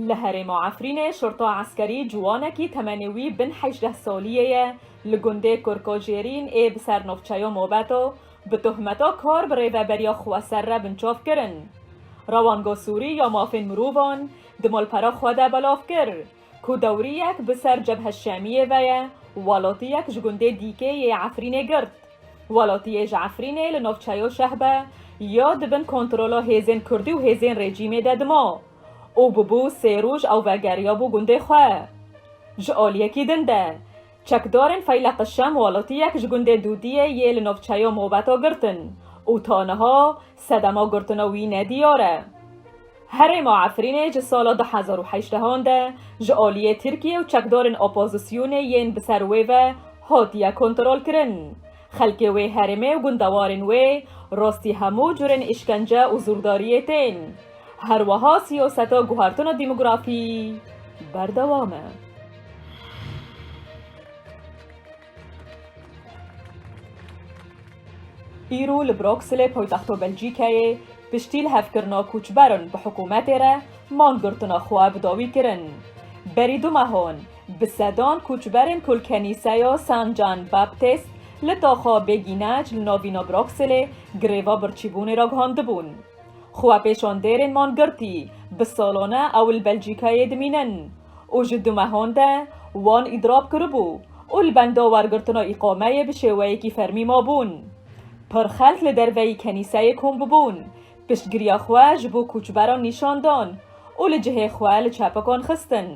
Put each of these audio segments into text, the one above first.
Li herêma Efrînê şorta eskerî ciwanekî temenê wî bin hejdeh saliyê ye li gundê Kurkojêrîn ê bi ser navçeya Mobeto bi tohmeta kar bi rêveberiya xweser re binçav kirin. Rewanga Sûrî ya Mafên Mirovan di malpera xwe de belav kir ku dewriyek bi ser Cebhe Şemiyê ve ye welatiyek ji gundê dîkê yê Efrînê girt. Welatiyê ji Efrînê li navçeya Şehbe ya di bin kontrola hêzên Kurdî û hêzên rejîmê de dima. û bûbû sê roj ew vegeriyabû gundê xwe. Ji aliyekî din de, çekdarên Feyleqi Şem welatiyek ji gundê Dûdiyê yê li navçeya Mobeta girtin û ta niha sedema girtina wî ne diyar e. Herêma Efrînê ji sala du hezar û heştehan de ji aliyê Tirkiyê û çekdarên opozisyonê yên bi ser wê ve hatiye kontrolkirin. Xelkê wê herêmê û gundewarên wê rastî hemû curên îşkence û zûrdariyê tên. Her weha siyaseta guhertina demografî berdewam e. Îro li Brokselê poytexto Belcîkeyê piştî li hevkirina koçberan bi hikûmetê re man girtina xwe bi dawî kirin. Berî du mehan, Bi sedan koçberên ku li kenîseya San Can Baptist li taxa Bêgînec li navîna Broxelê greva birçîbûnê re gihandibûn. Xwepêşandêrên man girtî bi salan e ew li Belcîkayê dimînin û ji du mehan de wan îdirab kiribû û li benda wergirtina îqameyê bi şêweyekî fermî mabûn. Pir xelk li derveyî kenîseyê kom bûbûn Piştgiriya xwe ji bo koçberan nîşan dan û li cihê xwe li çepikan xistin.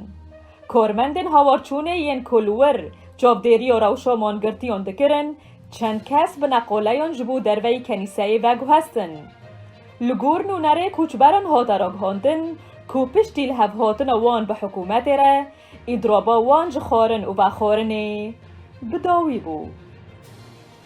Karmendên hawarçûnê yên ku li wir çavdêriya rewşa mangirtiyan dikirin, çend kes bi neqaleyan ji bo derveyî kenîseyê veguhestin. Li gor nûnerê koçberan hate ragihandin ku piştî li hev hatina wan bi hikûmetê re, îdraba wan ji xwarin û vexwarinê bi dawî bû.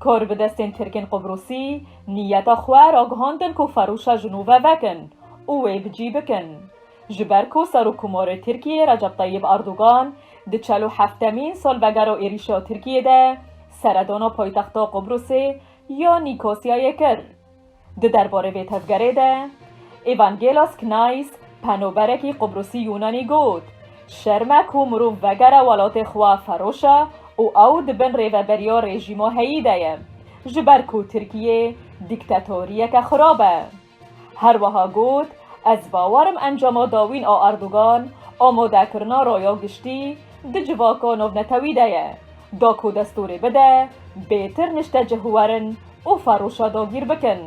Kor bi destên Tirkên Qubrûsî nîyeta xwe ragihandin ku ferûşa jinûve vekin û wê bi cî bikin. Ji ber ku Serokkomarê Tirkiyê Recep Tayyib Erdogan di çel û heftemîn salvegera êrîşa Tirkiyê de seredana paytexta Qubrûsê ya Nîkosyayê kir. Di derbarê vê tevgerê de Evangelos Knais, penoberekî Qubrusî-Yûnanî got, Şerm e ku mirov vegere welatê xwe Feroşa û ew di bin rêveberiya rejîma heyî de ye, ji ber ku Tirkiyê dîktetoriyeke xirab e. Her wiha got, Ez bawer im encama dawîn a Erdogan amadekirina raya giştî di civaka navnetewî de ye, da ku destûrê bide bêtir niştecihuwerin û Faroşa dagîr bikin.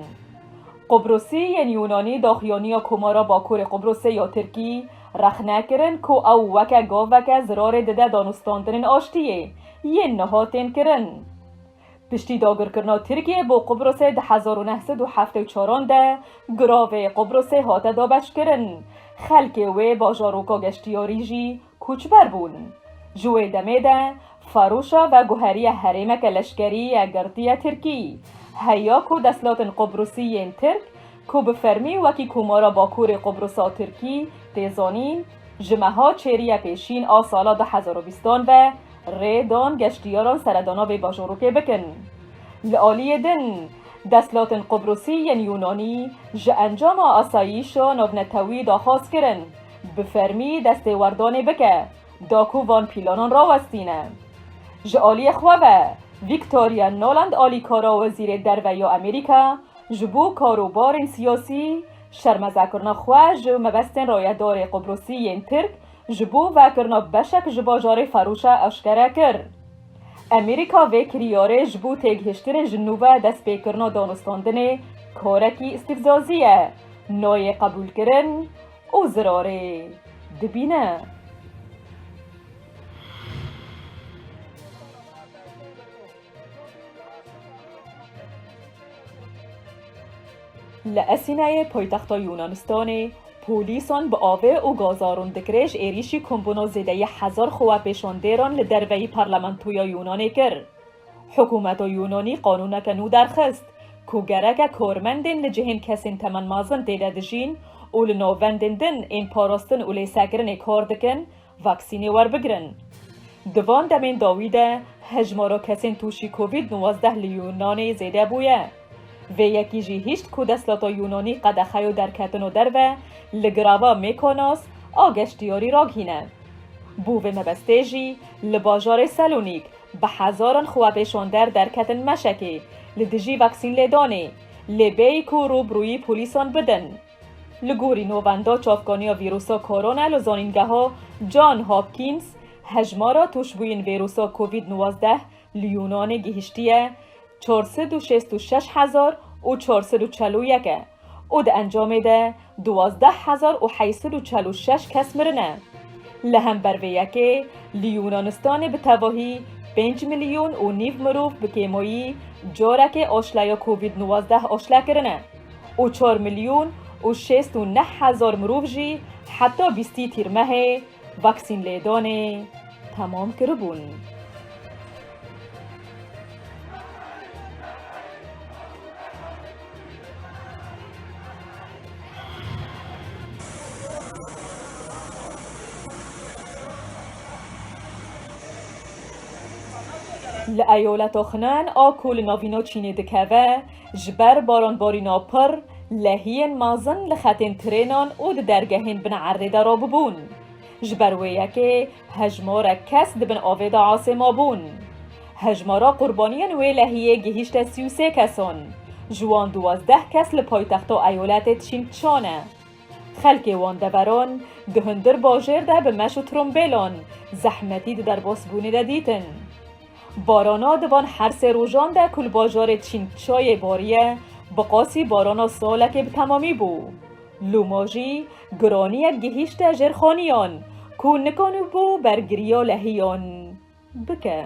Qubrusî yên Yûnanî daxuyaniya Komara Bakurê Qubrusê ya Tirkî rexne kirin ku ew weke gaveke zirarê dide danûstandinên aştiyê yên niha tên kirin. Piştî dagirkirina Tirkiyê bo Qubrusê di hezar û neh sed û heftê û çaran de giravê Qubrusê hate dabeşkirin, xelkê wê bajaroka geştiyarî jî Koçber bûn. Ji wê demê de Farûşa veguheriye herêmeke leşkerî ye girtiye Tirkî. Heya ku destlatên Qubrusî yên Tirk ku bi fermî wekî Komara Bakurê Qubrusa Tirkî tê zanîn, ji meha çêrîye pêşîn a sala du hezar û bîst an ve rê dan geştîyaran seredana vê bajorokê bikin. Li aliyê din, destlatên Qubrusî yên Yûnanî ji encama asayîşa navnetewî daxwaz kirin. Bi fermî destê werdanê bike da ku van pîlanan rawestîne. Ji aliyê xwe ve Victoria Nuland alîkara Wezîrê Derve ya Amerîka ji bo karobarên siyasî şermezekirina xwe ji mebestên rayedarê Qubrusî yên Tirk ji bo vekirina beşek ji bajarê Ferûşe eşkere kir. Amerîka vê kiryarê ji bo têgihiştinên ji nû ve destpêkirina danûstandinê karekî îstîfzazî ye, nayê qebûlkirin û zirarê dibîne. Li Esîneyê poytexta Yûnanistanê polîsan bi avê û gaza rûndikirê ji êrîşî kombûna zêdeyî hezar xwepêşandêran li derveyî parlamentoya Yûnanê kir. Hikûmeta Yûnanî qanûneke nû derxist ku gereke karmendên li cihên kesên temen mezin tê de dijîn û li navendên din ên parastin û lêsekirinê kar dikin, vaksînê werbigirin. Di van demên dawî de hejmara kesên tûşî Covid nûwazdeh li Yûnanê zêde bûye. Vê yekî jî hişt ku desthilata Yûnanî qedexeya derketina derve li girava Mykonos a geştyarî ragihîne. Bo vê mebestê jî li bajarê Selonîk, Bi hezaran xwepêşander derketin meşekê li dijî vaksînlêdanê lê bêyî ku rûbirûyî polîsan bidin. Li gorî navenda çavkaniya vîrusa korona li zanîngeha John Hopkins, hejmara tûşbûyên vîrusa covid nwazdeh li Yûnanê gihîştiye çar sed û şêst û şeş hezar û çar sed û çel û yek e. û di encamê de duwazdeh hezar û heyî sed û çel û şeş kes mirine. Li hember vê yekê li Yûnanistanê bi tevahî pênc milyon û nîv mirov bi kêmayî carekê aşleya covid nuwazdeh aşle kirine û çar milyon û şêst û neh hezar mirov jî heta bîstî tîrmehê Vaksîn lêdanê temam kiribûn. Li eyaleta Xnan a ku li navîna Çînê dikeve, Ji ber baranbarîna pir, lehiyên mezin li xetên trênan û di dergehên bin erdê de rabûbûn. Ji ber wê yekê hejmarek kes di bin avê de asê mabûn. Hejmara qurbaniyên wê lehiyê gihîşte sî û sê kesan, ji wan duwazdeh kes li paytexta eyoletê Çîn Çan e. Xelkê wan deveran di hundir bajêr de bi meş û trombêlan zehmetî di derbasbûnê de dîtin. Barana di van her sê rojan de ku li bajarê Çîngçayê bariye, bi qasî barana salekê bi temamî bû. Loma jî giraniyek gihîşte jêrxaniyan ku nikanîbû bergiriya lehiyan bike.